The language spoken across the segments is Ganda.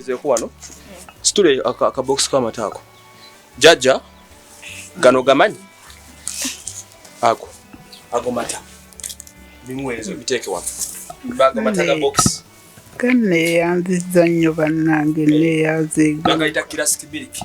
nzeko wano situle akabokisi k'amata ako jajja gano gamanyi ako ago mata bimuweerezo biteeke wano bago mata ga bokisi ganneeyanziza nnyo bannange nneeyanziga bagayita kirasiki biriki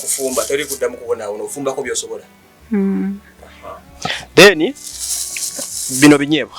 kufumba teri kuddamu kubonaawona ofumbako byosobola hmm. then bino binyeebwa